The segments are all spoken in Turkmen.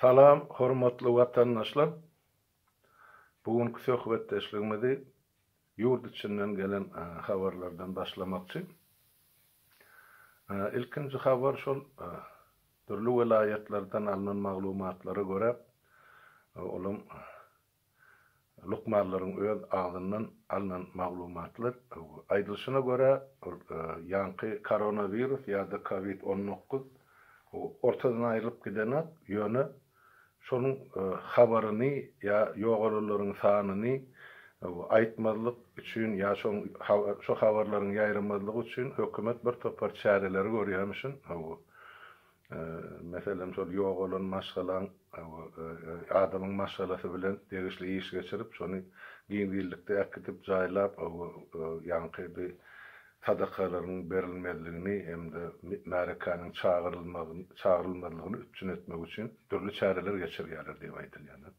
Salam, hormatly watandaşlar! Bu günki söhbetdeşligimizi ýurt içinden gelen habarlardan başlamakçy. Ilkinji habar şol dürli welaýatlardan alnan maglumatlara görä, olam Lukmanlaryň öz agzyndan alnan maglumatlar, aýdylyşyna görä, ol ýaňky koronawirus ýa-da covid on dokuz ortadan aýrylyp gidenak, ýöne şonuň habaryny ýa ýogalanlaryň sanyny aýtmazlyk üçin ýa şo habarlaryň ýaýramazlygy üçin hökümet bir topar çäreleri görýärmişin. Meselem, şol ýogalan maşgalaň adamyň maşgalasy bilen degişli iş geçirip, şony giňişlikde äkidip, jaýlap, ýaňky bi sadakalaryň berilmezligini hem-de märekäniň çagyrylmazlygyny üpjün etmek üçin dürli çäreler geçirýärler diýip aýdylýar.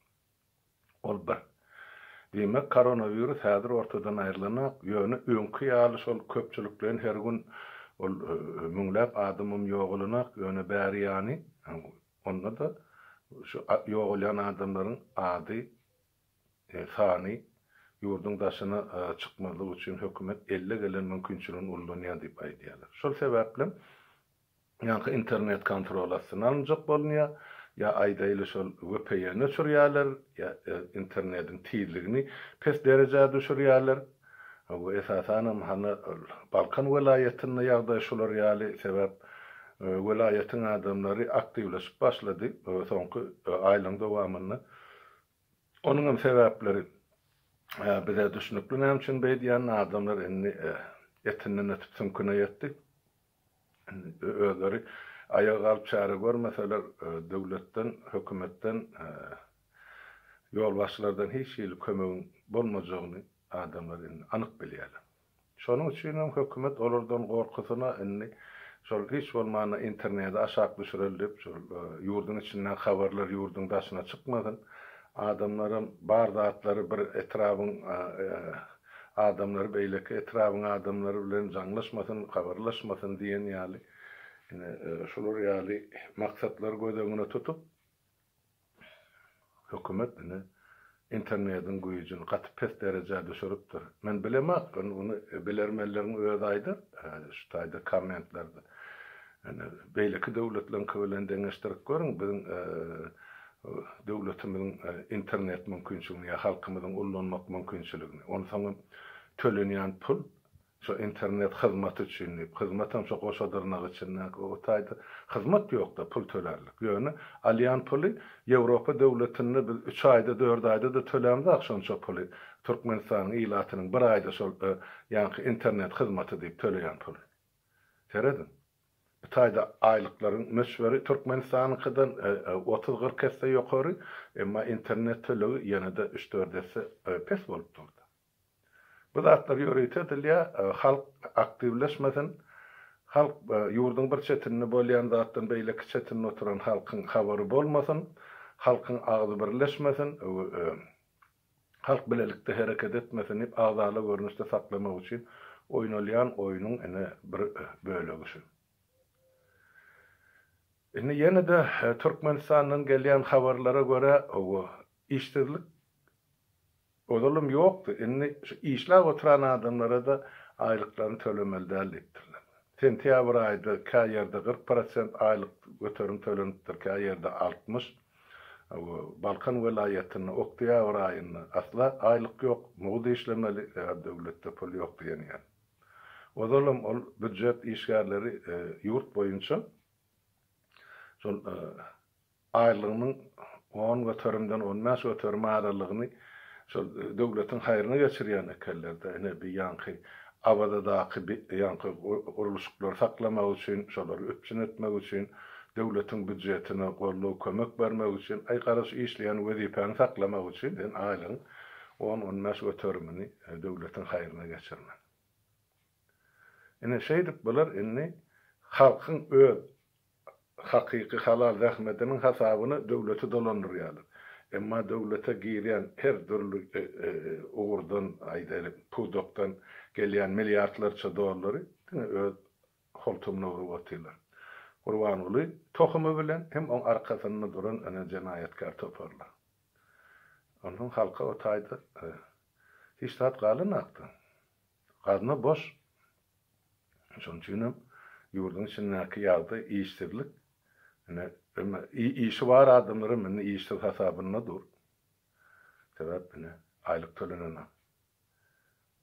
Ol bir. Diýmek, koronawirus häzir ortadan aýrylanok, ýöne öňki ýaly şol köpçülikleýin her gün ol müňläp adamam ýogalanok, ýöne bäri ýany, onda-da şu ýogalýan adamlaryň ady, sany ýurduň daşyna çykmazlyk üçin hökümet elle gelen mümkinçiligini ullanýar diýip aýdýarlar. Şol sebäplem Ýaňky internet kontrol astyna alynjak bolunýar, ýa aýdaýly şol vpn öçürýärler, ýa internediň tizligini pes derejä düşürýärler. Bu esasanam hany ol Balkan welaýatynda ýagdaý şular ýaly, sebäp welaýatyň adamlary aktiwleşip başlady soňky aýlaryň dowamynda. Onuňam sebäpleri bize düşnükli näme üçin beýdýänini, adamlar indi etinden ötüp süňküne ýetdi. Indi özleri aýaga galyp çäre görmeseler, döwletden, hökümetden, ýolbaşçylardan hiç hili kömegiň bolmajagyny adamlar indi anyk bilýärler. Şonuň üçin hem hökümet olardan gorkusyna indi şol hiç bolmanda interneti aşak düşüreli diýip, şol ýurduň içindäki habarlar ýurduň daşyna çykmasyn, adamlaram bar zatlary bir etrabyň Adamlar beýleki etrabyň adamlary bilen jaňlaşmasyn, kabarlaşmasyn diýen ýaly, ine, şular ýaly maksatlary göz öňüne tutup, hökümet, ine, internediň güýjüni gaty pes derejä düşüripdir. Men bilemok, indi muny bilermenleriň özi aýdar, şu taýda kommentlarda. Ine, beýleki döwletleriňki bilen deňeşdirip görüň, biziň döwletimiziň internet mümkinçiligini ýa halkymyzyň ullanmak mümkinçiligini, onsoň hem tölenýän pul şo internet hyzmaty üçin diýip, hyzmat hem şo goşa dyrnak içindäki o taýda hyzmat ýok-da pul tölärlik. Ýöne alýan puly Ýewropa döwletinde biz üç aýda, dört aýda-da tölämzok şonça puly, Türkmenistanyň ilatynyň bir aýda şol ýaňky internet hyzmaty diýip töleýän puly. Serediň. Bu taýda aýlyklaryň möçberi Türkmenistanyňkydan otuz-kyrk esse ýokary, emma internet tölegi ýene-de üç-dört esse pes bolup durdy. Bu zatlar ýörite edilýär, halk aktiwleşmesin, halk ýurduň bir çetinde bolýan zatdan beýleki çetinde oturan halkyň habary bolmasyn, halkyň agzy birleşmesin. Halk bilelikde hereket etmesin diýip agzala görnüşde saklamak üçin oýnalýan oýnuň ine bir bölegi şu. Indi ýene-de Türkmenistandan gelýän habarlara görä owo işsizlik ozalam ýokdy, indi şu işläp oturan adamlara-da aýlyklaryny tölemeli däl diýipdirler. Sentýabr aýda kä ýerde kyrk prosent aýlyk göterim tölenipdir, kä ýerde altmyş. Balkan welaýatynda oktýabr aýynda asla aýlyk ýok, mugt işlemeli, eger döwletde pul ýok diýenýär. Ozalam ol býujet işgärleri ýurt boýunça şol aýlygynyň on göterimden on bäş göterim aralygyny Şol döwletiň haýryna geçirýän ekenler-de, ine, bi ýaňky Awazadaky bi ýaňky gurluşyklary saklamak üçin, şolary üpjün etmek üçin, döwletiň býudjetine goldaw, kömek bermek üçin, aý, gara şu işleýän wezipäňi saklamak üçin sen aýlygyň on-on bäş göterimini döwletiň haýryna geçirmeli. Ine, şeýdip bular indi halkyň öz hakyky halal zähmediniň hasabyna döwleti dolandyrýarlar. Emma döwlete girýän her dürli ugurdan, aýdaýlyk, pudakdan gelýän milliardlarça dollary diňe öz holtumyna urup otyrlar. Gurbanguly tohumy bilen hem oň arkasynda duran ene jenaýatkär toparlar. Onsoň halka o taýda hiç zat galanakdy. Gazna boş. Şonuň üçin hem ýurduň içindäki ýagdaý, işsizlik, ine, emma işi bar adamlar hem indi işsiz hasabynda dur. Sebäp ine, aýlyk tölenenok.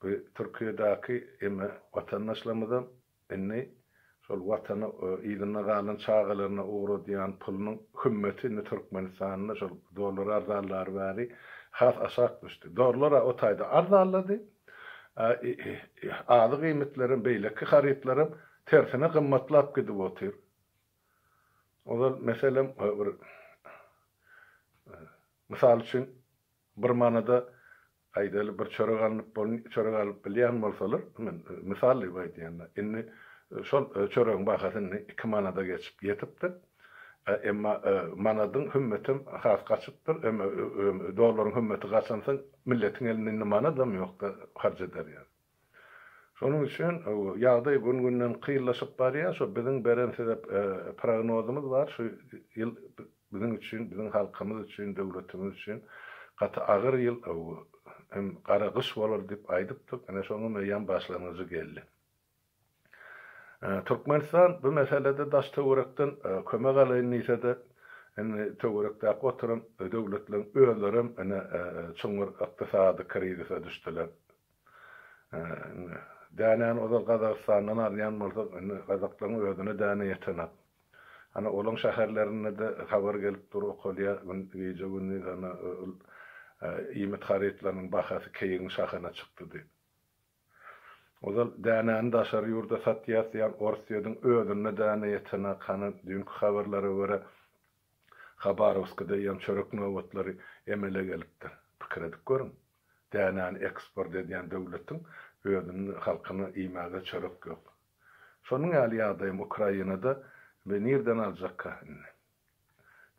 Bu Türkiýedäki emma watandaşlarymyzam Indi şol Watana yzynda galan çagalaryna ugradýan pulunyň hümmeti indi Türkmenistanda şol dollar arzanlary bäri has aşak düşdi. Dollar-a o taýda arzanlady, a azyk iýmitlerem, beýleki harytlaram tersine gymmatlap gidip otyr. Ozal, meselem, bir, mysal üçin, bir manada Aýdaly bir çörek alnyp bol çörek alyp bilýän bolsalar, men mysal diýip aýdýan-da, indi şol çöregiň bahasy indi iki manada geçip ýetipdir. Emma manadyň hümmetem has gaçypdyr. Emma dollaryň hümmeti gaçansoň milletiň elinde indi manadam ýok-da harç eder ýaly. Şonuň üçin ýagdaý gün-günden kynlaşyp barýar. Şo biziň beren size prognozymyz bar. Şu ýyl biziň üçin, biziň halkymyz üçin, döwletimiz üçin gaty agyr ýyl hem gara gyş bolar diýip aýdypdyk. Ine şonuň eýýäm başlangyjy geldi. Türkmenistan bu meselede daş-töwerekden kömek alaýyn diýse-de, indi töwerekdäki oturan döwletleriň özlerem ine çuňňur ykdysady krizise düşdüler. Indi dänäni ozal Gazagystandan alýan bolsak, indi gazaklaryň özüne däne ýetenak. Ana, olaň şäherlerinde-de habar gelip dur, okalýar, gije-gündiz ana, iýmit harytlarynyň bahasy keýigiň şahyna çykdy diýip. Ozal dänäni daşary ýurda satýas diýýän Orsýetiň özünde däne ýetenak. Hany, düýnki habarlara görä, Habarowskda ýam çörek nobatlary emele gelipdir. Pikir edip görüň. Dänäni eksport edýän döwletiň özüniň halkyna iýmäge çörek ýok. Şonuň ýaly ýagdaýam Ukrainada we nirden aljakka indi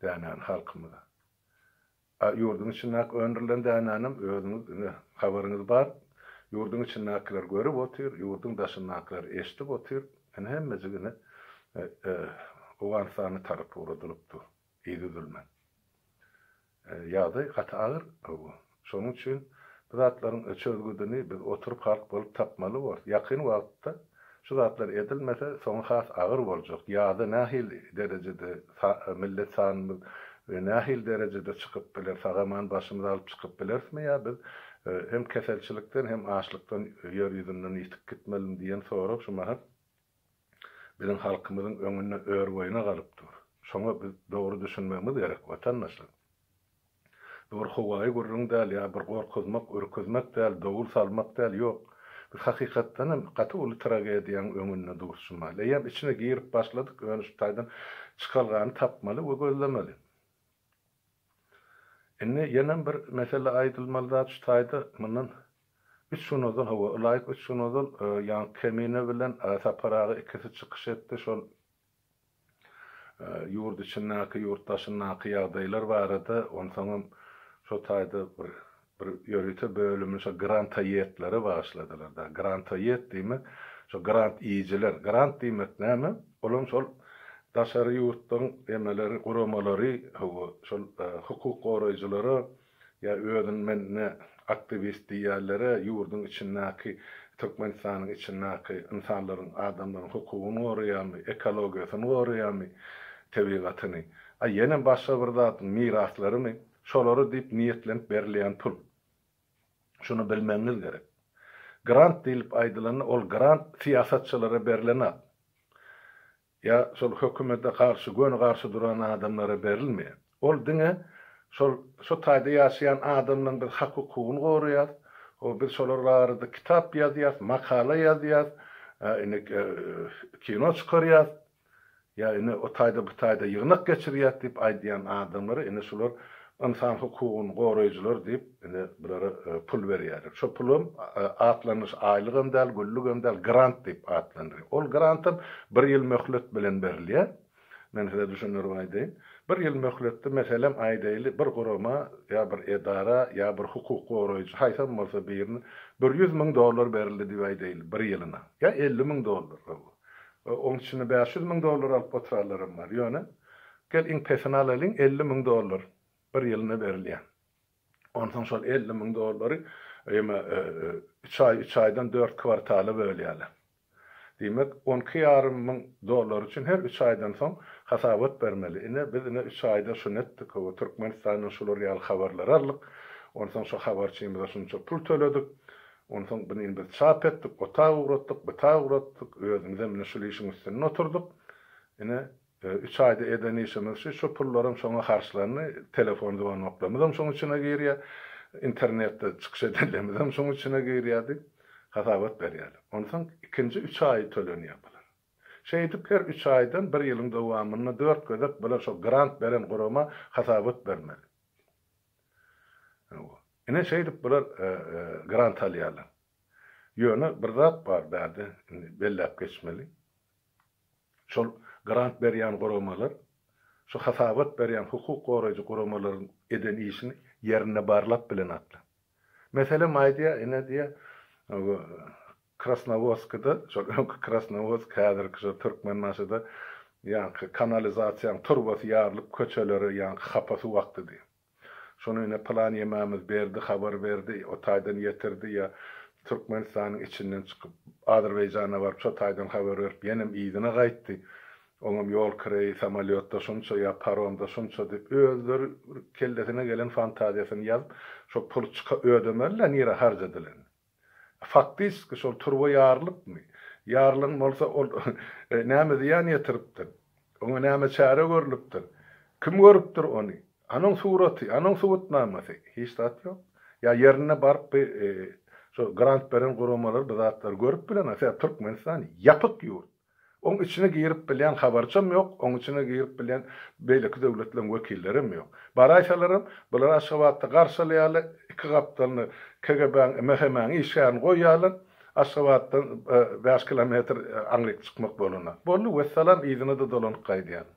dänäni halkymyz? A ýurduň içindäki öndürilen dänänem özüňiz ine habaryňyz bar, ýurduň içindäkiler görüp otyr, ýurduň daşyndakylar eşdip otyr, ine hemmejik ine Owganystana tarap ugradylyp dur yzydülmen. Ýagdaý gaty agyr bu. Şonuň üçin bu zatlaryň çözgüdini biz oturyp halk bolup tapmaly borus. Ýakyn wagtda şu zatlar edilmese soňy has agyr boljak. Ýaza nähili derejede millet sanymyz we nähili derejede çykyp biler, sag-aman başymyzy alyp çykyp bilerismi ýa biz hem keselçilikden hem açlykdan ýer ýüzünden ýitip gitmelimi diýen sorag şu mahal biziň halkymyzyň öňünde örboýuna galyp dur. Şoňa biz dogry düşünmegimiz gerek, watandaşlar. Bu bir howaýy gürrüň däl, ýa bir gorkuzmak, ürküzmek däl, dowul salmak däl, ýok. Biz hakykatdan hem gaty uly tragediýaň öňünde durşumaly. Eýýäm içine girip başladyk, ýöne şu taýdan çykalgany tapmaly we gözlemeli. Indi ýenem bir mesele aýdylmaly zat şu taýda mundan üç gün ozal, hawa, ylaýyk üç gün ozal ýaňky Kemine bilen Sapar aga ikisi çykyş etdi şol ýurt içindäki, ýurt daşyndaky ýagdaýlar barada, onsoňam şo taýda bir Bir ýörite bölümini şo grantoýedlere bagyşladylar da. Grantoýed diýmek, şo grant iýijiler. Grant diýmek näme? Ol hem şol daşary ýurtlaryň emeleri, guramalary, hawa, şol hukuk goraýjylara ýa özüni men ne aktiwist diýýänlere, ýurduň içindäki, Türkmenistanyň içindäki ynsanlaryň, adamlaryň hukugyny goraýanmy, ekologiýasyny goraýanmy, tebigatyny, a ýene başga bir zadyň miraslarymy, Şolary diýip niýetlenip berilýän pul. Şuny bilmegiňiz gerek. Grant diýlip aýdylanda ol grant syýasatçylara berlen at. Ýa şol hökümete garşy göni garşy duran adamlara berilmeýär. Ol diňe şol şu taýda ýaşaýan adamlaryň biz hak hukugyny goraýas, o biz şolar barada kitap ýazýas, makala ýazýas, indi kino çykarýas. Ýa ine o taýda bu taýda ýygnak geçirýäs diýip aýdýan adamlara ine şular ynsan hukugyny goraýjylar diýip ine bulara pul berýärler. Şo pulam atlanyş aýlygam däl, güllügem däl, grant diýip atlandyrýar. Ol grantam bir ýyl möhlet bilen berilýär. Men size düşündirip aýdaýyn. Bir ýyl möhletde meselem aýdaýly bir gurama ýa bir edara ýa bir hukuk goraýjy haýsam bolsa birine bir ýüz müň dollar berildi diýip aýdaýly bir ýylyna ýa elli müň dollar goý bu Oň içinde bäş ýüz müň dollar alyp oturanlaram bar. Ýöne, gel iň pesini alalyň, elli müň dollar bir ýylyna berilýär. Onsoň şol elli müň dollary ýeme üç aý, üç aýdan dört kwartala bölýärler. Diýmek, on iki ýarym müň dollar üçin her üç aýdan soň hasabat bermeli. Ine, biz ine üç aýda şuny etdik, hawa, Türkmenistandan şular ýaly habarlary aldyk, onsoň şo habarçymyza şunça pul töledik, Onsoň buny biz çap etdik, ota ugratdyk, buta ugratdyk, özümizem ine şul işiň üstünde oturdyk. Ine, üç aýda eden işimiz şu, şu pullaram şoňa harçlandy, telefon zwanoklarymyzam şoň içine girýär, internetde çykyş edenlerimizem şoň içine girýär diýip, hasabat berýärler. Onsoň ikinji üç aýy tölenýär bular. Şeýdip her üç aýdan bir ýylyň dowamynda dört gezek bular şo grant beren gurama hasabat bermeli. Ine şeýdip bular grant alýarlar. Ýöne bir zat bar bärde indi belläp geçmeli. Şol grant berýän guramalar şu hasabat berýän hukuk goraýjy guramalaryň eden işini ýerinde barlap bilenoklar. Meselem aýdýar ine diýýär Krasnowodskide, şol öňki Krasnowodsk, häzirki şo Türkmenbaşyda ýaňky kanalizasiýaň turbasy ýarylyp köçelere ýaňky hapa suw akdy diý. Şony ine pylan ýemämiz berdi, habar berdi, o taýdan ýetirdi ýa Türkmenistanyň içinden çykyp Azerbaýjana baryp şo taýdan habar berip ýenem yzyna gaýtdy. Oňam ýol kireýi samolýotda şunça ýa paromda şunça diýip özleri bir kellesine gelen fantaziýasyny ýazyp şo puly çyka ödemeli-le nirä harjadylany. Faktiski şol turba ýarylykmy? Ýarylan bolsa ol näme zyýan ýetiripdir? Oňa näme çäre görlüpdir? Kim görüpdir ony? Anoň suraty, anoň subutnamasy? Hiç zat ýok. Ýa ýerine baryp bi şo grant beren guramalar bu zatlary görüp bileňa? Sebäbi Türkmenistan ýapyk ýurt. Oň içine girip bilýän habarçam ýok, oň içine girip bilýän beýleki döwletleriň wekillerem ýok. Baraýsalaram, bular Aşgabatda garşalaýarlar, iki gapdalyna KGB-niň MHM-niň işgärini goýýarlar, Aşgabatdan bäş kilometr aňryk çykmak bolanda. Boldy, wessalam, yzyna-da dolanyp gaýdýarlar.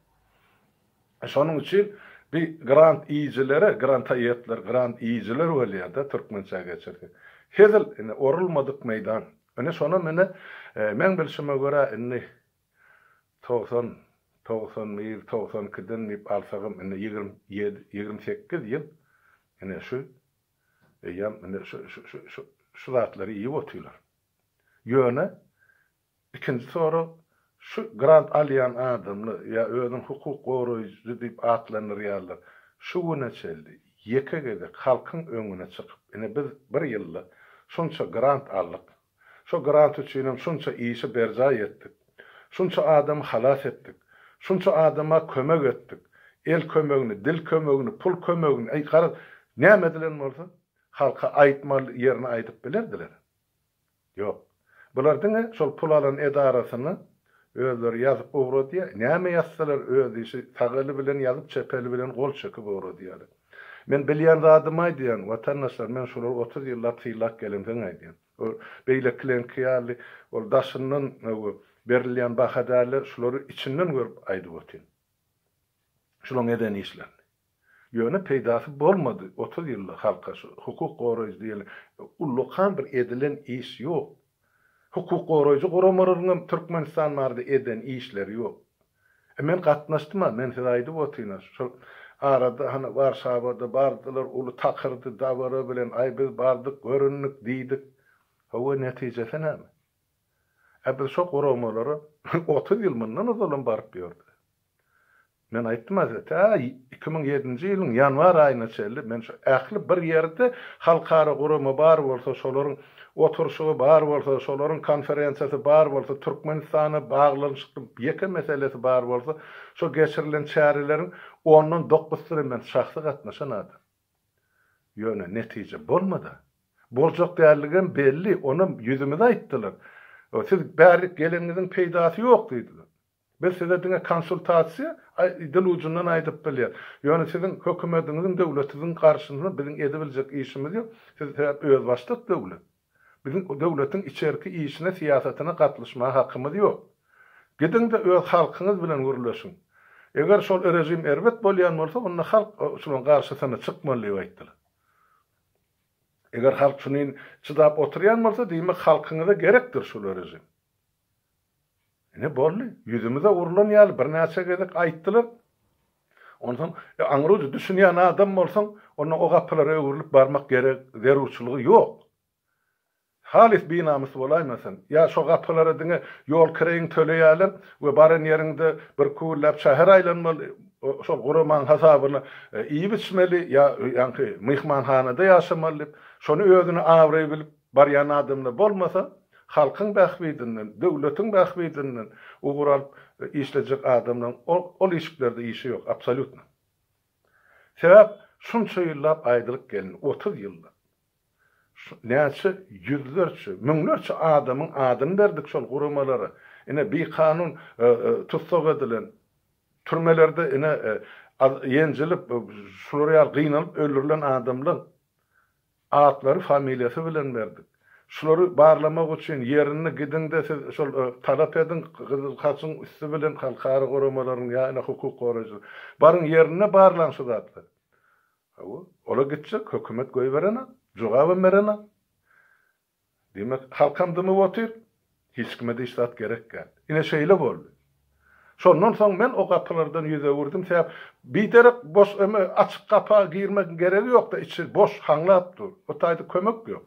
Şonuň üçin bi grant iýijilere, granta iýetler, grant iýijiler bolýada türkmençä geçirse. Hezil, ine, orulmadyk meýdan. Ine, şonam, ine, meň bilşime görä, indi togsan, togsan bir, togsan ikiden diýip alsagam, indi ýigrimi ýedi, ýigrimi sekiz ýyl, ine, şu eýýäm, indi, şu, şu, şu, şu, şu zatlary iýip otyrlar. Ýöne, Ikinji sorag, şu grant alýan adamlar, ýa özüni hukuk goraýjy diýip atlandyrýarlar, şu güne çenli ýeke gezek halkyň öňüne çykyp, ine biz bir ýylda şunça grant aldyk, şo grant üçinem şunça işi berjaý etdik, şunça adamy halas etdik, şunça adama kömek etdik, el kömegini, dil kömegini, pul kömegini, äý garaz, näme edilen bolsa, halka aýtmaly ýerini aýdyp bilerdiler. Ýok. Bular diňe şol pul alan edarasyna özleri ýazyp ugradýar. Näme ýazsalar öz işi, sag eli bilen ýazyp çep eli bilen gol çekip ugradýarlar. Men bilýän zadymy aýdýan, watandaşlar, men şulara otuz ýyllap sylap gelemsoň aýdýan. Ol beýlekilerňki ýaly ol daşyndan öwgi berilýän baha dälde, şulary içinden görüp aýdyp otyryn. Şulaň eden işlerini. Ýöne peýdasy bolmady, otuz ýylda halka şu hukuk goraýjy diýeli ullakan bir edilen iş ýok. Hukuk goraýjy guramalaryňam Türkmenistan barada eden işleri ýok. E men gatnaşdym-a, men size aýdyp otyryn-a, şol arada hany Warşawada bardylar, uly takyrdy, dabara bilen, aý biz bardyk, göründik, diýdik. Hawa, netijesi näme? Ä biz şo guramalara otuz ýyl mundan ozalam baryp ýördi. Men aýtdym Hazret, tä iki müň ýedinji ýylyň ýanwar aýyna çenli men şu ähli bir ýerde halkara gurama bar bolsa, şolaryň oturyşygy bar bolsa, şolaryň konferensiýasy bar bolsa, Türkmenistana baglanyşykly ýeke meselesi bar bolsa, şu geçirilen çäreleriň ondan dokusyna men şahsy gatnaşan adam. Ýöne netije bolmady-a. Boljak däldigem belli, onam ýüzümize aýtdylar. Siz bärik geleniňiziň peýdasy ýok diýdiler. Biz size diňe konsultasiýa dil ujundan aýdyp bilýär. Ýöne siziň hökümediňiziň döwletiziň garşyna biziň edibiljek işimiz ýok. Siz sebäp özbaşdak döwlet. Biziň döwletiň içerki işine syýasatyna gatlyşmaga hakymyz ýok. Gidiňde öz halkyňyz bilen gürleşiň. Eger şol režim erbet bolýan bolsa onda halk şunuň garşysyna çykmaly diýip aýtdylar. Eger halk şunin çydap oturýan bolsa diýmek halkyňyza gerekdir şul režim. Ine, boldy. Ýüzümize urlan ýaly birnäçe gezek aýtdylar. Onsoň, aňry-uja düşünýän adam bolsaň, onda o gapylara öwrülip barmak gerek, zerurçylygy ýok. Halys binamys bolaýmasaň, ýa şo gapylara diňe ýol kireýiňi töleýärler we baran ýeriňde bir küwürläp şäher aýlanmaly, şol guramaň hasabyna iýip-içmeli ýa ýaňky myhmanhanada ýaşamaly diýip, şony özüne abraý bilip, Barýan adamlar bolmasa, halkyň bähbidinden, döwletiň bähbidinden ugur alyp işlejek adamlaryň ol işiklerde işi ýok, absolýutno. Sebäp, şunça ýyllap aýdylyp gelindi, otuz ýyllap. Näçe ýüzlerçe, müňlerçe adamyň adyny berdik şol guramalara. Ine, bikanun tussag edilen, türmelerde ine, ýenjilip, şular ýaly gynalyp öldürilen adamlar Atlary familiýasy bilen berdik. Şulary barlamak üçin ýerini gidiňde siz şol talap ediň, Gyzyl Haçyň üsti bilen halkara guramalaryň ýa-da hukuk goraýjy baryň ýerinde barlaň şu zatlary. Hawa, ola gitjek, hökümet goýberenok, jogabam berenok. Diýmek, halkam dymyp otyr, hiç kime-de hiç zat gerek däl. Ine, şeýle boldy. Şondan soň men o gapylardan ýüz öwürdim, sebäp biderek boş öme açyk gapa girmegiň geregi ýok-da, içi boş, haňlap dur. O taýda kömek ýok.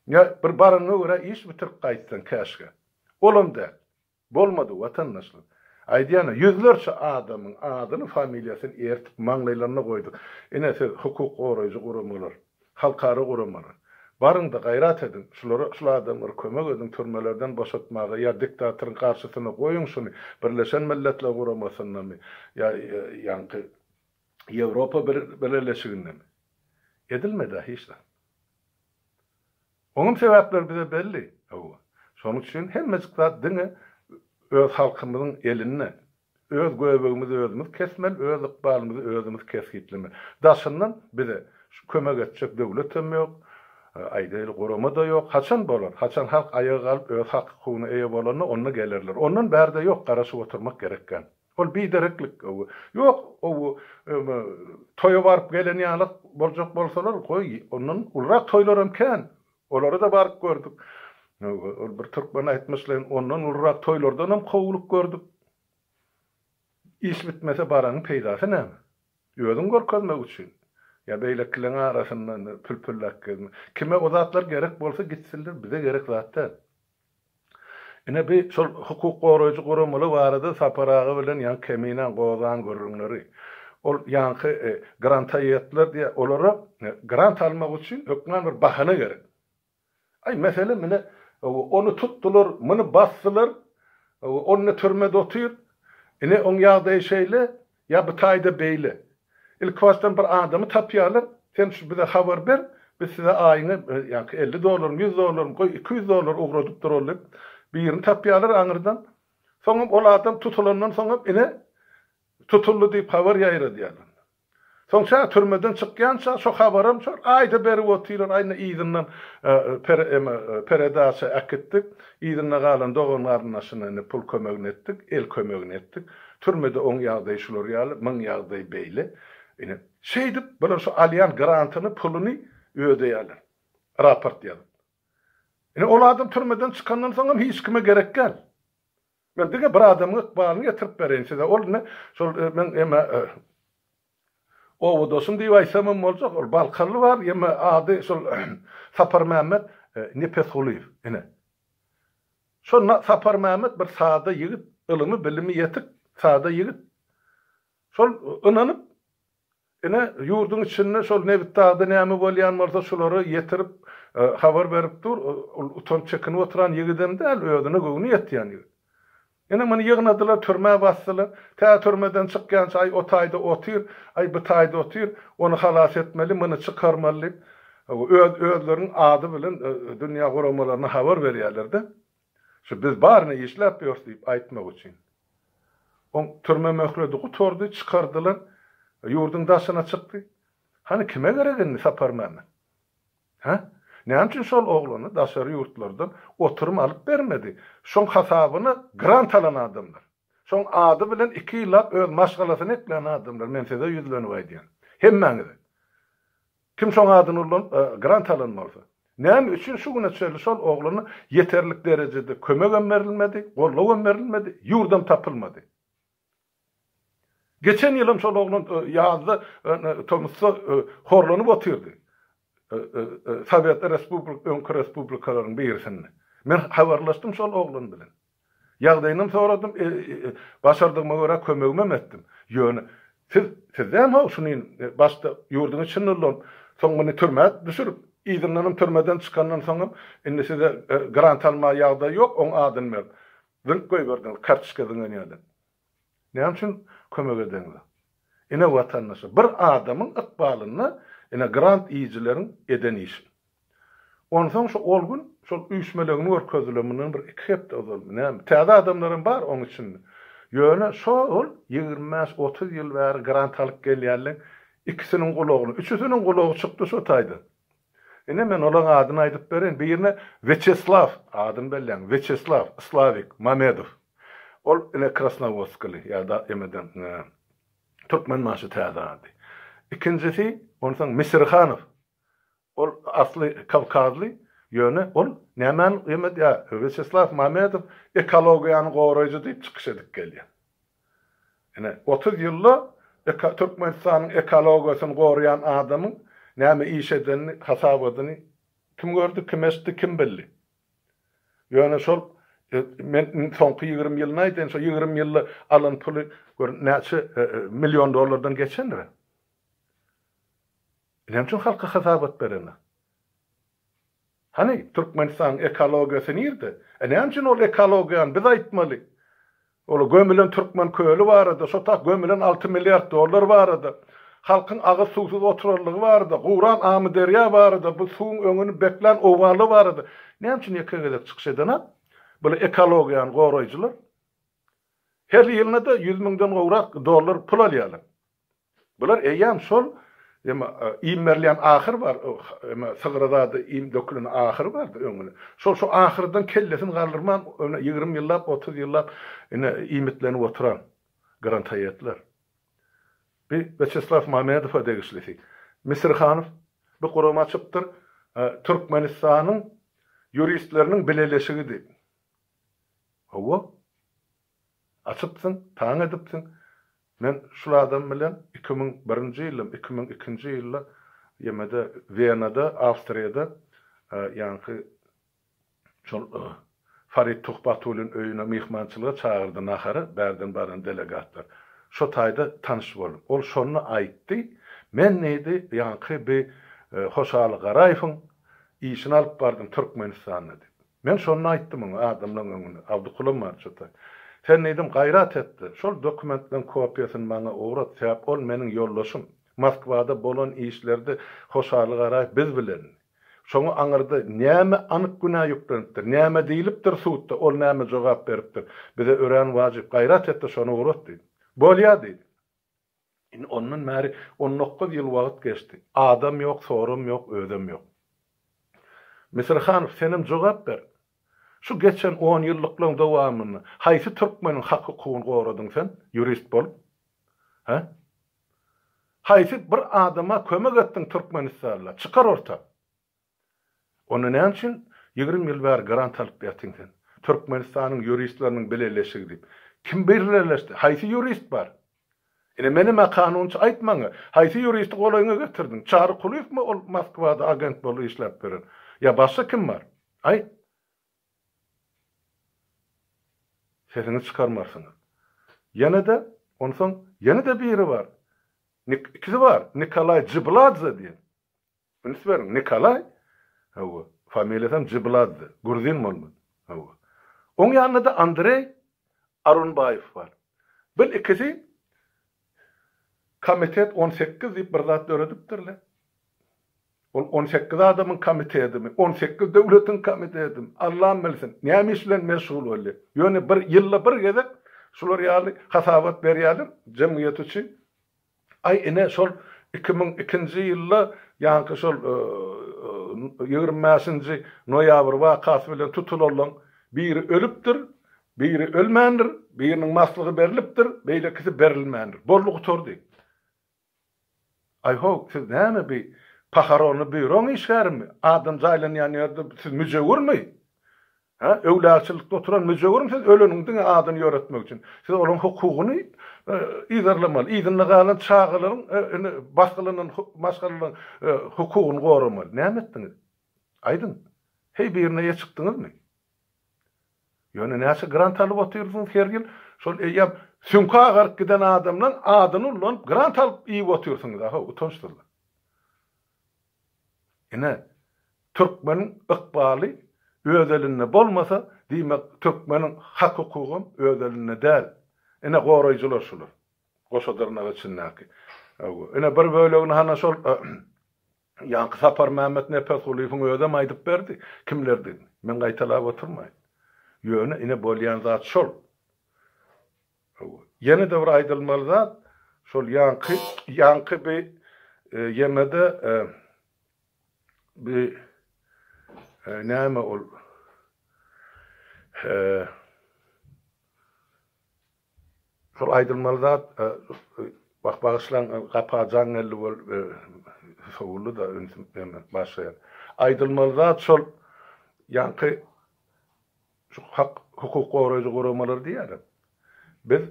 Ýa bir baranyňa görä iş bitirip gaýtsaň, käşgä. Olam däl. Bolmady, watandaşlar. Aýdýan-a, ýüzlerçe adamyň adyny, familiýasyny ertip, maňlaýlaryna goýduk. Ine, siz, hukuk goraýjy guramalar, halkara guramalar, baryň-da, gaýrat ediň, şulara, şul adamlara kömek ediň türmelerden boşatmaga ýa diktatoryň garşysyna goýuň şuny, Birleşen Milletler Guramasyndamy ýa ýaňky Ýewropa Bileleşigindemi? Edilmedi-ä hiç zat. Onuň sebäpleri bize belli, hawa. Şonuň üçin hemmejik zat diňe öz halkymyzyň elinde. Öz göbegimizi özümiz kesmeli, öz ykbalymyzy özümiz kesgitlemeli. Daşyndan bize kömek etjek döwletem ýok, aýdaýly, gurama-da ýok. Haçan bolar? Haçan halk aýaga galyp, öz hak-hukugyna eýe bolanda, onda gelerler. Ondan bärde ýok, garaşyp oturmak gerekgän. Ol bidereklik, gowy. Ýok, gowy, öňe toýa baryp gelen ýaly boljak bolsalar, goý, ondan ulurak toýlaram kän. Olara-da baryp gördük. Ol bir türkmen aýtmyşlaýyn, ondan ulurak toýlardanam kowulyk gördük. Iş bitmese baranyň peýdasy näme? Özüňi görkezmek üçin. Ýa beýlekileň arasynda pülpülläp gezmek. Kime o zatlar gerek bolsa gitsinler, bize gerek zat däl. Ine bi şol hukuk goraýjy guramaly barada Sapar aga bilen ýaňy Keminäň gozan gürrüňleri. Ol ýaňky granta ýetdiler diýýär. Olara grant almak üçin hökman bir bahana gerek. Aý mesele mine ony tutdular, muny basdylar, ol ine türmede otyr. Ine oň ýagdaýy şeýle, Ýa bu taýda beýle. Ilkibaşdan bir adamy tapýarlar, sen şu bize habar ber, biz size aýyňy ýaňky elli dollarmy, ýüz dollarmy, goý, iki ýüz dollar ugradyp durally diýip, birini tapýarlar aňyrdan. Soňam ol adam tutulandan soňam ine, tutuldy diýip habar ýaýradýarlar. Soň şa türmeden çykýança şo habaram şol aýda berip otyrlar, aý indi yzyndan per eme peredaça äkitdik, yzynda galan dogan-garyndaşyna indi pul kömegini etdik, el kömegini etdik. Türmede oň ýagdaýy şular ýaly, muň ýagdaýy beýle. Ine, şeýdip, bular şu alýan grantyny, puluny ödeýärler. Raport ýazyp. Ine, ol adam türmeden çykandan soňam hiç kime gerek däl. Men diňe bir adamyň ykbalyny getirip bereýin size. Ol ine, şol, men, emma, Owadoşum diýip aýtsamam boljak, ol balkaly bar, ýeme ady şol Saparmämmet Nepesgulyýew, ine. Şo Saparmämmet bir sada ýigit, ylymy, bilimi ýetik sada ýigit. Şol ynanyp, ine, ýurduň içinde şol Nebitdagda näme bolýan bolsa, şulary ýetirip, habar berip dur, ol utanç çekinip oturan ýigidem däl, özüne göwni ýetýän ýigit. Ine, muny ýygnadylar, türmä basdylar. Tä türmeden çykýança, Aý, o taýda otyr, aý, bu taýda otyr, ony halas etmeli, muny çykarmaly diýip, öz, özleriniň ady bilen dünýä guramalaryna habar berýärler-de, şu biz baryny işläp ýörüs diýip aýtmak üçin. Oň türme möhledi gutardy, çykardylar, ýurduň daşyna çykdy. Hany, kime gerek indi Saparmämmet? Hä? Näme üçin şol oglana daşary ýurtlardan oturum alyp bermedi? Şoň hasabyna grant alan adamlar. Şoň ady bilen iki ýyllap öz maşgalasyny eklän adamlar, men size ýüzlenip aýdýan. Hemmäňize. Kim şoň adyny ulanyp, grant alan bolsa. Näme üçin şu güne çenli şol oglana ýeterlik derejede kömegem berilmedi, gollawam berilmedi, ýurdam tapylmady? Geçen ýyl hem şol oglan ýazda tomusda horlanyp otyrdy. Sowet respublik öňki respublikalaryň birisinde. Men habarlaşdym şol oglan bilen. Ýagdaýynam soradym, başardygyma görä kömegimem etdim. Ýöne siz sizem how şuny başda ýurduň içinde ulanyp, soň muny türmä düşürip, yzyndanam türmeden çykandan soňam indi size grant almaga ýagdaý ýok, oň adyny berip. Zynk goýberdiňiz, kartoçka zyňan ýaly. Näme üçin kömek edeňiz? Ine watandaşa, bir adamyň ykbalyna ine grant iýijileriň eden işi. Onsoň şu ol gün şol üýşmelegini görkezdiler mundan bir iki hepde ozalmy näme. Täze adamlar hem bar oň içinde. Ýöne şo-ol ýigrimi bäş, otuz ýyl bäri grant alyp gelýänleň ikisiniň gulagyny, üçüsiniň gulagy çykdy şo taýdan. Ine, men olaryň adyny aýdyp bereýin. Birine Wýaçeslaw, adyny belläň, Wýaçeslaw, Islawik, Mamedow. Ol, ine, krasnowodskaly ýa-da emeden, türkmenbaşy täze ady. Ikinjisi, onsoň Misirhanow. Ol asly kawkazly, ýöne ol nämäni emed, ýa, Wýaçeslaw Mamedow ekologiýany goraýjy diýip çykyş edip gelýär. Ine, otuz ýylda Türkmenistanyň ekologiýasyny goraýan adamyň näme iş edenini, hasabadyny kim gördi, kim eşitdi, kim bildi? Ýöne şol men soňky ýigrimi ýylyny aýdaýyn, şo ýigrimi ýylda alan puly gör näçe million dollardan geçendir-ä? Näme üçin halka hasabat berenok? Hany Türkmenistanyň ekologiýasy nirde? E näme üçin ol ekologiýany biz aýtmaly? Ol gömülen Türkmen köli barada, şo tak gömülen alty milliard dollar barada, halkyň agyz suwsuz oturanlygy barada, guran Amyderýa barada, bu suwuň öňüni beklän owganlar barada näme üçin ýeke gezek çykyş edenok? Bula ekologiýany goraýjylar her ýylyna-da ýüz müňden gowrak dollar pul alýarlar. Bular eýýäm şol, ýa iým berilýän ahyr bar, ýa sygyra zady iým döküleni ahyry bardy öňüni. Şol şu ahyrdan kellesini galdyrman ýöne ýigrimi ýyllap, otuz ýyllap ine iýmitlenip oturan grantaýetler. Bi Wýaçeslaw Mamedowa degişlisi. Misirhanow bi guram açypdyr, Türkmenistanyň ýuristleriniň bileleşigi diýip. Hawa. Açypsyň, taň edipsiň. Men şul adam bilen iki müň birinji ýyldam, iki müň ikinji ýylda ýemede Wenada, Awstriýada, ýaňky şol Farid Tuhbatulyň öýüne myhmançylyga çagyrdy nahara bärden baran delegatlar. Şo taýda tanyş boldum. Ol şonda aýtdy, Men diýdi, ýaňky bi Hoşaly Garaýewiň işini alyp bardym Türkmenistanda diýdi. Men şonda aýtdym oňa adamlaň öňünde, Abdykuly marjata, sen diýdim, gaýrat et-de, şol dokumentleň kopiýasyny maňa ugrat, sebäp ol meniň ýoldaşym, Moskwada bolan işlerde Hoşaly Garaýew biz bilendi. Şoňa aňyrda näme anyk günä ýüklenipdir, näme diýlipdir sudda, ol näme jogap beripdir, bize örän wajyp, gaýrat et-de, şony ugrat diýdim. Bolýa diýdi. Indi ondan bäri on dokuz ýyl wagt geçdi. Adam ýok, soram ýok, özem ýok. Misirhanow, senem jogap ber! Şu geçen on ýyllyklaryň dowamynda haýsy türkmeniň hak-hukugyny goradyň sen, ýurist bolup? Hä? Haýsy bir adama kömek etdiň Türkmenistanla? Çykar orta! Onda näme üçin ýigrimi ýyl bäri grant alyp ýatyň sen? Türkmenistanyň ýuristleriniň bileleşigi diýip. Kim birleleşdi? Haýsy ýurist bar? Ine menem-ä kanunçy aýt maňa, haýsy ýuristi golaýyňa getirdiň? Çary Kulyýewmi ol Moskwada agent bolup işläp ýören? Ýa başga kim bar? Aýt! Sesiňizi çykarmarsyňyz. Ýene-de, onsoň, ýene-de biri bar. Nik, ikisi bar. Nikolaý Jibladze diýen. Üns beriň, Nikolaý, hawa, familiýasam Jyblazdy, gruzin bolman, hawa. Oň ýanynda-da Andreý Arunbaýew bar. Bil, ikisi Komitet on sekiz diýip bir zat döredipdirler. Ol on sekiz adamyň komitedimi, on sekiz döwletiň komitedimi, Allam bilsin, näme iş bilen meşgul bolýar. Ýöne bir ýylda bir gezek şular ýaly hasabat berýärler jemgyýet üçin. Aý ine şol iki müň ikinji ýylda ýaňky şol ýigrimi bäşinji noýabr wakasy bilen tutulanlaň biri ölüpdir, biri ölmändir, biriniň maslygy berlipdir, beýlekisi berilmändir. Boldy gutardy. Aý-ho, siz näme bi pahoronny býuroň işgärimi? Adam jaýlanýan ýerde siz müjewürmi? Hä, öwlüaçylykda oturan müjewürm siz öleniň diňe adyny ýöretmek üçin. Siz olaň hukugyny yzarlamaly, yzynda galan çagalaryň indi basgylanan maşgalalaryň hukugyny goramaly. Näme etdiňiz? Aýdyň. Heý birine eýe çykdyňyzmy? Ýöne näçe grant alyp otyrsyňyz her ýyl? Şol eýýäm süňki agaryp giden adamlaň adyny ullanyp grant alyp iýip otyrsyňyz-a ho, utançsyzlar. Ine, türkmeniň ykbaly öz elinde bolmasa, diýmek, türkmeniň hak-hukugam öz elinde däl. Ine, goraýjylar şular. Goşa dyrnak içindäki. Ine, bir bölegini hana şol ýaňky Saparmämmet Nepesgulyýewiň özem aýdyp berdi, kimlerdigini. Men gaýtalap oturmaýyn. Ýöne, ine, bolýan zat şol. Hawa. Ýene-de bir aýdylmaly zat, şol ýaňky, ýaňky bi ýemede bi näme ol şol aýdylmaly zat, wah, bagyşlaň, gapa jaň geldi bol, sowuldy-da, ünsüm, başga ýer. Aýdylmaly zat şol ýaňky Şu hak hukuk goraýjy guramalar diýýärem. Biz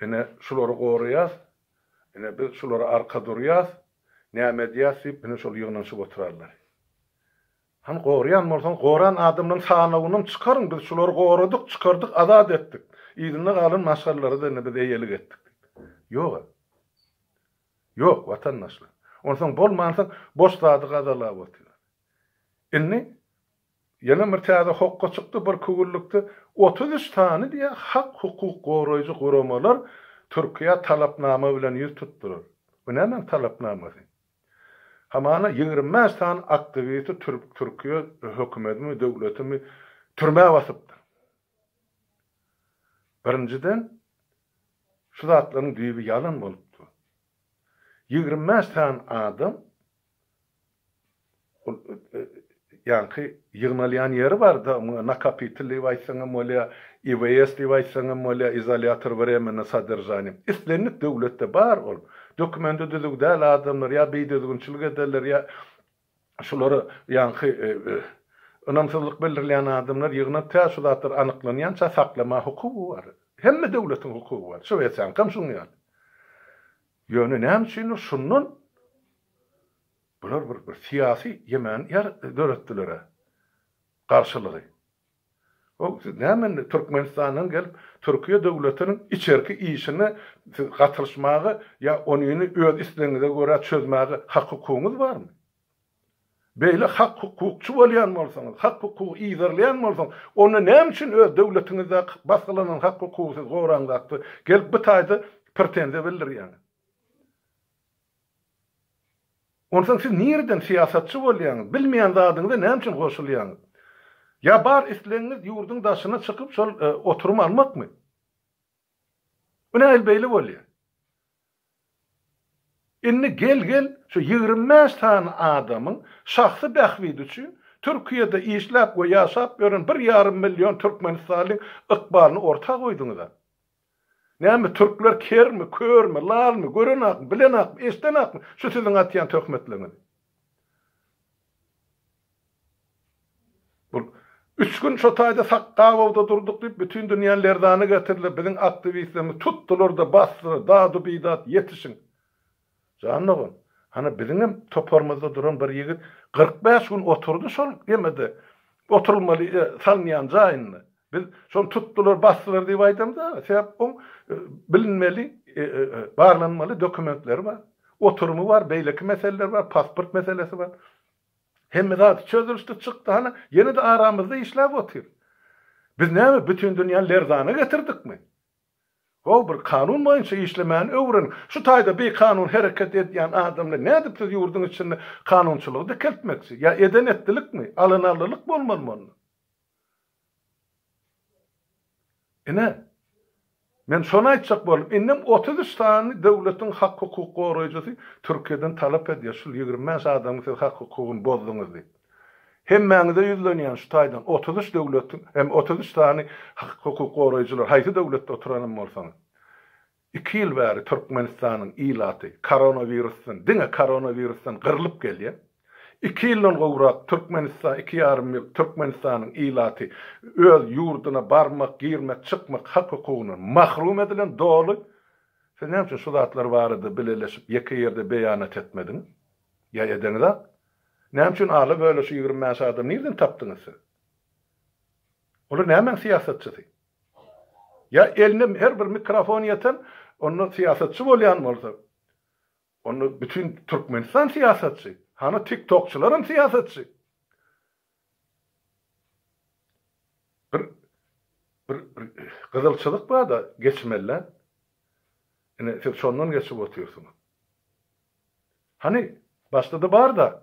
ine şulary goraýas, ine biz şulara arka durýas, näme edýäs diýip ine şol ýygnanyşyp oturarlar. Hany goraýan bolsaňyz goran adamlaryň sanawynam çykaryň biz şulary goradyk, çykardyk, azat etdik. Yzynda galan maşgalalara-da ine biz eýelik etdik diýip. Ýog-a. Ýok watandaşlar. Onsoň bolmansoň boş zady gazalap otyr. Indi Ýene bir täze hokga çykdy, bir kürlükde otuz üç sany diýe hak-hukuk goraýjy guramalar Türkiýä talapnama bilen ýüz tutdular. Bu nämäň talapnamasy? Hamana ýigrimi bäş sany aktiwisti Türkiýe hökümedimi, döwletimi türmä basypdyr. Birinjiden, şu zatlaryň düýbi ýalan bolup dur. Ýigrimi bäş sany adam Ol ýaňky ýygnalýan ýeri bar-da, muňa nakapitel diýip aýtsaň hem bolýar, IVS diýip aýtsaň hem bolýar, izolýator wremennoý sodržaniýa. Islendik döwletde bar ol. Dokumenti düzüw däl adamlar ýa bidüzgünçilik ederler, ýa şulary ýaňky ynamsyzlyk bildirýän adamlar ýygnap, tä şu zatlar anyklanýança saklamaga hukugy bar. Hemme döwletiň hukugy bar. Şwesiýaňkam şuň ýaly. Ýöne näme üçindir şundan Bular bir bir syýasy ýemen ýer döretdilere garşylygy. Hoow siz näme indi Türkmenistandan gelip Türkiýe döwletiniň içerki işine siz gatylyşmaga ýa onyny öz islegiňize görä çözmäge hak hukugyňyz barmy? Beýle hak hukukçy bolýan bolsaňyz, hak hukugy yzarlaýan bolsaňyz onda näme üçin öz döwletiňizdäki basgylanan hak hukugy siz goraňzakda gelip bu taýda pretenziýa bildirýäňiz? Onsoň siz nireden syýasatçy bolýaňyz? Bilmeýän zadyňyza näme üçin goşulýaňyz? Ýa bar islegiňiz ýurduň daşyna çykyp şol oturymy almakmy? Bu nähili beýle bolýar? Indi gel gel şu ýigrimi bäş sany adamyň şahsy bähbidi üçin Türkiýede işläp we ýaşap ýören bir ýarym million türkmenistalyň ykbalyny orta goýduňyza. Näme, türkler kermi, körmi, lalmy, görenakmy, bilenakmy, eşdenakmy şu siziň atýan töhmetleriňizi? Bu üç gün şo taýda sak gabawda durduk diýip, bütin dünýäni lerzana getirdiler, biziň aktiwistlerimizi tutdular-da, basdylar, dadu-bidat, ýetişiň! Jan dogan, hany biziňem toparymyzda duran bir ýigit kyrk bäş gün oturdy şol gemide oturylmaly salynýan jaýynda. Biz şony tutdular, basdylar diýip aýdamyzdaga, sebäp oň bilinmeli, barlanmaly dokumentleri bar. Oturymy bar, beýleki meseleleri bar, pasport meselesi bar. Hemme zady çözülişdi, çykdy, hany ýene-de aramyzda işläp otyr. Biz näme, bütin dünýäni lerzana getirdikmi? How bir kanun boýunça işlemäni öwreniň. Şu taýda bikanun hereket edýän adam bilen nädip siz ýurduň içinde kanunçylygy dikeltmekçi? Ýa eden etdilikmi? Alynarlylyk bolmaly munda. Ine, men şony aýtjak boldum. Indem otuz üç sany döwletiň hak-hukuk goraýjysy Türkiýeden talap edýär, şul ýigrimi bäş adamyň siz hak-hukugyny bozduňyz diýip. Hemmäňize ýüzlenýän şu taýdan otuz üç döwletiň hem otuz üç sany hukuk goraýjylar haýsy döwletde oturanam bolsaňyz iki ýyl bäri Türkmenistanyň ilaty koronawirusdan diňe koronawirusdan gyrlyp gelýär. Iki ýyldan gowrak Türkmenistan iki ýarym ýyl Türkmenistanyň ilaty öz ýurduna barmak girmek çykmak hak hukugyndan mahrum edilen doly Siz näme üçin şu zatlar barada bileleşip ýeke ýerde beýanat etmediňiz? Ýa edeňizak? Näme üçin ala böle şu ýigrimi bäş adamy nirden tapdyňyz siz? Olar nämäň syýasatçysy? Ýa eline her bir mikrofon ýeten, onda syýasatçy bolýan bolsa, onda bütin Türkmenistan syýasatçy, hany tiktokçylaram syýasatçy. Bir bir bir gyzylçylyk barda geçmelle. Ine siz şondan geçip otyrsyňyz. Hani başda-da barda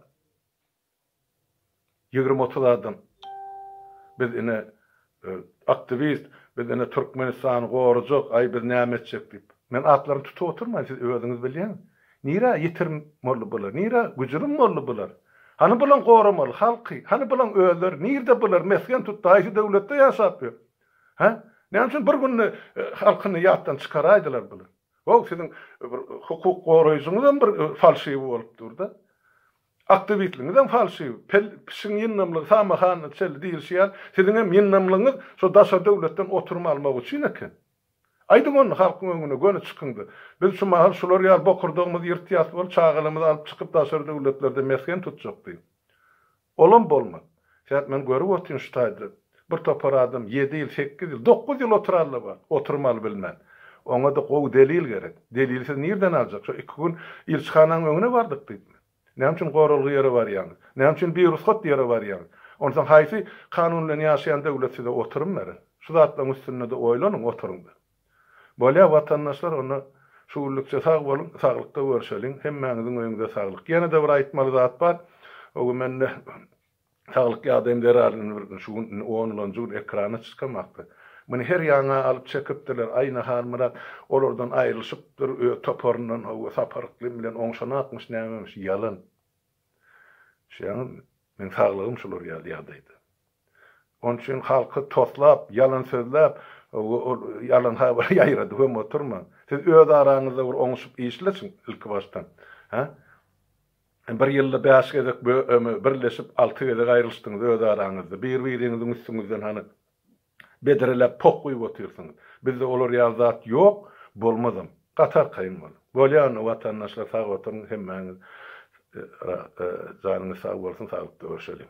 20-30 adam biz ine Aktiwist, Biz indi Türkmenistany gorajak, aý biz näme etjek diýip. Men atlaryny tutup oturmaýyn, siz özüňiz bilýäňiz. Nirä ýitirim boldy bular, nirä güjürim boldy bular? Hany bulaň goramaly halky, hany bulaň özleri, nirde bular, mesgen tutdy, haýsy döwletde ýaşap ýör? Hä? Näme üçin bir günde halkyny ýatdan çykaraýdylar bular? Waw, siziň bir hukuk goraýjyňyzam bir falşiwi bolup dur-da. Aktywistligiňizem falşiw, pel, pişiň ýyndamlygy samy hany çel diýilşi ýaly, siziňem ýyndamlygyňyz şo daşary döwletden oturum almak üçin eken. Aýdyň ony halkyň öňüne, göni çykyňda, biz şu mahal şular ýaly bokurdagymyzy ýyrtýas bolup, çagalarymyzy alyp çykyp daşary döwletlerde mesgen tutjak diýiň. Olam bolmaz. Sen men görüp otyryn şu taýda bir topar adam ýedi ýyl, sekiz ýyl, dokuz ýyl oturarlar bar, oturmaly bilmän. Oňada gowy delil gerek. Delili siz nirden aljak? Şo iki gün ilçihananyň öňüne bardyk diýip mi? Näme üçin goralgy ýere barýaňyz? Näme üçin birugsat ýere barýaňyz? Onsoň haýsy kanun bilen ýaşaýan döwlet size oturum berer? Şu zatlaryň üstünde-de oýlanyň, oturyň-da. Bolýa watandaşlar onda şu günlükçe sag boluň, saglykda görşeliň, hemmäňiziň öýüňize saglyk. Ýene-de bir aýtmaly zat bar, o gün mende saglyk ýagdaýym zerarly bir gün şu gün indi onlanjy gün ekrana çykamakda. Meni her ýaňa alyp çekipdirler, aýna Halmyrat olardan aýrylyşypdyr, öz toparyndan hawa Sapar yklym bilen oňşanakmyş nämemiş, ýalan. Düşýäňizmi? Meň saglygym şular ýaly ýagdaýda. Onuň üçin halky toslap, ýalan sözläp, ol ýalan habary ýaýradyp hem oturmaň. Siz öz araňyzda bir oňuşyp işleşiň ilkibaşdan. Hä? Bir ýylda bäş gezek birleşip, alty gezek aýrylyşdyňyz öz araňyzda. Bir-biriňiziň üstüňizden hany bedreläp poh guýup otyrsyňyz. Bizde olar ýaly zat ýok, bolmazam. Gaty arkaýyn boluň. Bolýany watandaşlar sag oturyň hemmäňiz janyňyz sag bolsun saglykda görşeliň.